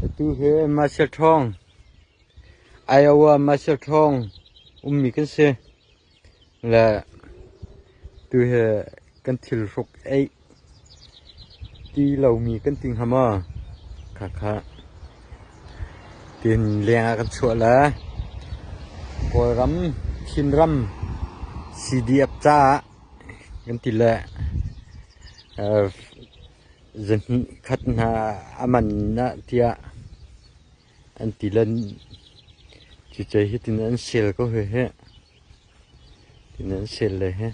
Atu hi Masial ṭhawng, Iowa Masial ṭhawng ummi kan si. Le tu hi kan thil hruk eih ti lomi kan ti hnga maw? Khakha. Tin leng ah kan chuah le Kawlram, Chinram CDF caah Kan ti le zahnih khat hna a man ah tiah an ti le cucu hitin an sel ko hih hih. Hitin an sel le hih.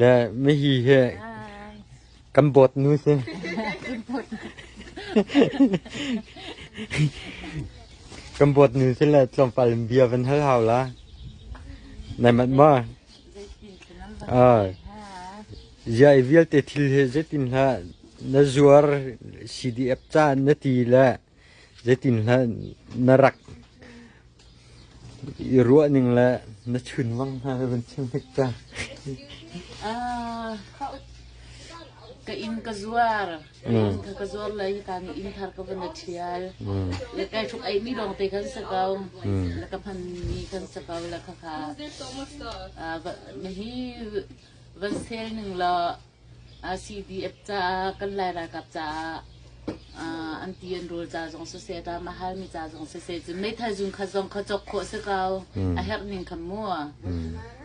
Le mihi hi kan boat nu si. kan boat nu si le tlawmpal bia van hal hau la. Nai mat ma. Ah. Ya i vialte thil he zetin hla na zuar CDF caan na ti le Zeitinhlah na rak i ruah ning le na chunwang hna ka vun chim hnik ta. Ah, ka in ka zuar. In ka ka zuar lai ka ni in thar ka vun thial. Le kai thuk ai mi dong te kan sa kau. Le ka phan mi kan sa kau la ka ka. Ah, va hi van sel ning la CDF caah kan Lai ralkap caah an ti an rul ca zong siseh ta mahal mi ca zong siseh cun meithal zung khat zong kha cawk khawh si ko a herh ning kha mu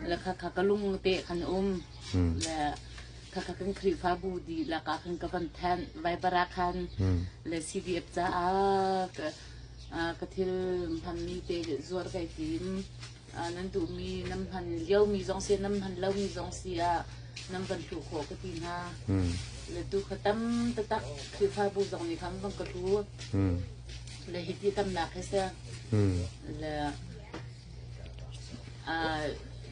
le kha kha ka lung te khan um le kha kha kan khrihfa bu di laka khan ka van than vai para khan le CDF caah ka thil hmanmi te zuar kai tim nan duhmi nan hman liomi zong si nan hman lomi zong si ah nan van hluh khawh ka ti hna. Hmm. Le tu kha tam tatak Khrihfabu zong nih khan van ka hlu. Hmm. Le hi ti tamnak he se. Hmm. Le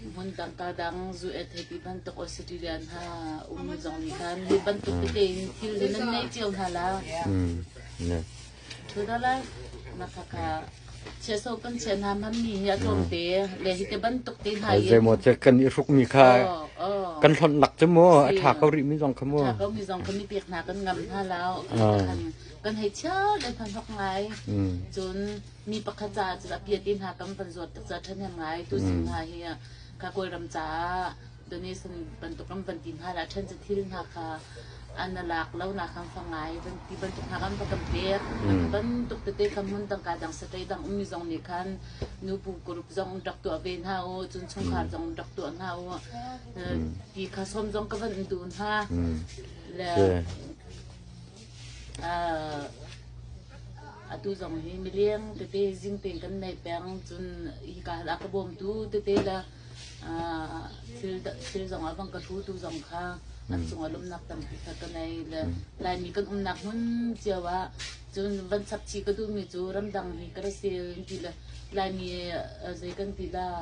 hmun dangka dang zu et he ti bantuk Australian ha um zong nih khan hi bantuk te in thil le nan nei cio hna la. Hmm. Thut a lai. Nakaka chiahsawh kan chiah hna mammi hi a tlawmte le hi te bantuk te hna in zeimaw che kan i hrukmi kha kan hlonhnak cu mu a tha ko rih mi zong kha mu tha ko mi zong kha mi pek hna kan ngam hna lao kan hei chia le hna hnok ngai cun mi pakhat caah cun a pia te hna kan van zuat tuk ca ṭhen hem ngai tu sin hna hi kha kawlram caah donation bantuk kan van ti hna lah ṭhen cu thil hna kha an lak lo na kan fa ngai van ti bantuk hna kan va kan pek bantuk tete kan hmun tangka dang saṭei dang ummi zong nih khan nu pu group zong rak tuah ve hna u cun chungkhar zong rak tuah hna u ti kha som zong ka van duh hna le atu zong hi mileng tete zing ten kan nei peng cun hi ka hal ka bawm tu tete la thil zongah bang ka ṭhu tu zong kha kan cungah lawmhnak tampi kha ka ngei le Laimi kan umnak hmun cio ah cun van chap chih ka duhmi cu ramdang hi ka ra sil in ti le Laimi zei kan ti dah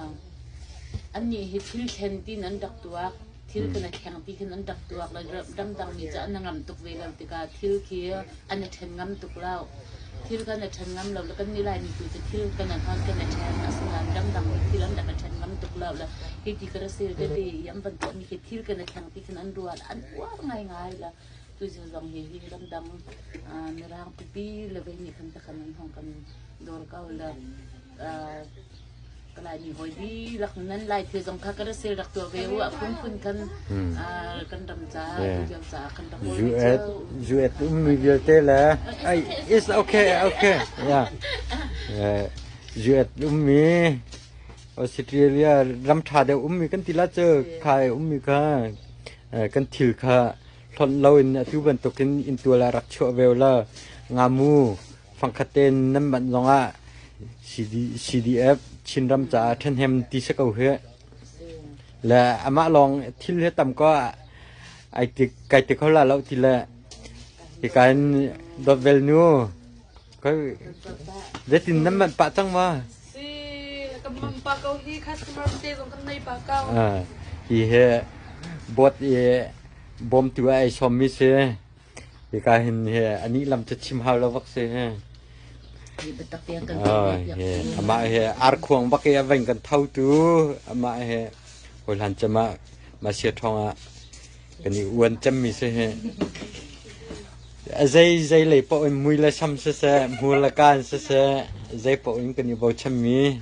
annih hi thil thlen tiin an rak tuak thil cu na kheng ti hin an rak tuak le ramdang mi cu an na ngam tuk ve lo tikah thil khi an i ṭhen ngam tuk lo thil kan i ṭhen ngam lo le kan ni laimi tu cu thil kan i hnon kan i ṭhen asinain ramdang mi thil an rak i ṭhen ngam tuk lo le hi ti ka rasil tete i an van tuahmi khi thil kan i kheng ti hin an ruat an uar ngaingai le tuizun zong hi hi ramdang mirang pipi le vei nih khan takhan an hong kan dawr ko le Kalaimi hawi dirak nan lai thil zong kha kan ra sel rak tuah ve u a phunphun kan kan ram ca video ca kan rak US US ummi vialte le it's okay okay yeah US ummi Australia ram tha deuh ummi kan ti la cu khai ummi kha kan thil kha hlon lo in atu bantukin in tua la rak chuah ve la ngamu fangkhat tein nan manh zongah CDF Chinram caah ṭhahnem ti si ko hi le amah lawng thil hi tam ko ai ti kai ti kho la lo ti le i kan dot vel nu kai zetin nan manh pah cang ma si kan man pa ko hi customer te zong kan nei pa ko hi he bot i bom tu ai som mi se Hika hin hi anih lam cu chim hau lo bak si. Amah hi arkhuang bak i a vain kan thotu amah hi hawilan cem ah masia ṭhawng ah kan i uan cemmi si hi. A zei zei lei paoh in mui le sam siseh, hmur le kaan siseh, zei paoh in kan i bochanmi.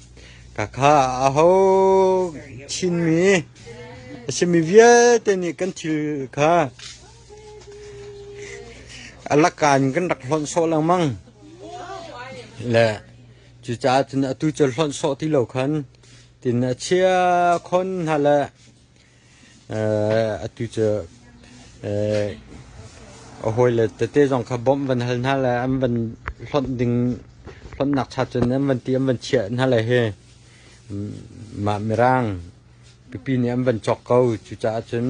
Ka kha aho Chinmi a simi vialte nih kan thil kha a laka in kan rak hlonh sawh lengmang. Le cucaah cun atu cu hlonh sawh ti lo khan tin a chia khon hna le Atu cu a hawile tete zong kha bawmh van hal hna le an van hlonh ding hlonhnak cha cun an van ti an van chiah hna le hi mah mirang pipi nih an van cawk ko. Cucaah cun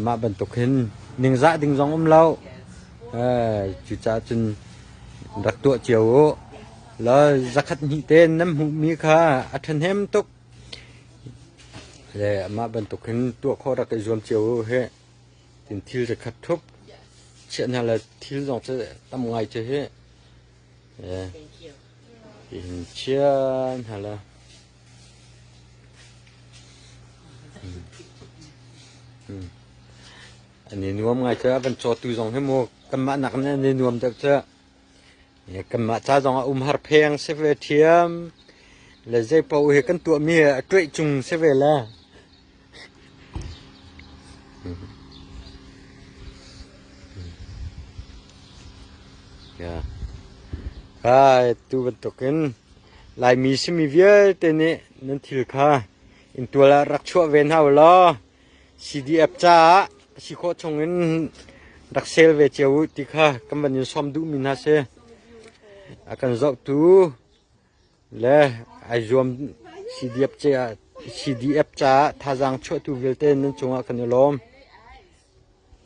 mah bantuk hin ningzah ding zong um loh. Cucaah cun rak tuah cio u. Law zakhat hnih te nan hmuhmi kha a ṭhahnem tuk. Le mah bantuk hin tuah khawh rak i zuam cio hih. Tiin thil zakhat thup chiah hna le thil zong cu tam ngai cu hih tiin chiah hna le an i nuam ngai cu. A van cawtu zong hi mu kanmah nak in an i nuam deuh cu. Kanmah ca zong ah umhar pheng si ve ṭhiam. Le zeipaoh hi kan tuahmi ah a ṭoih cung si ve la. Kai tu bantuk in Laimi simi vialte nih nan thil kha inn tual ah rak chuah ve hna u law CDF caah a si khawh chungin rak sel ve cio u ti kha kan van in sawm duhmi hna si. A kan zohtu le ai zuam CDF caah CDF caah thazaang chuahtu vialte nan cungah kan i lawm.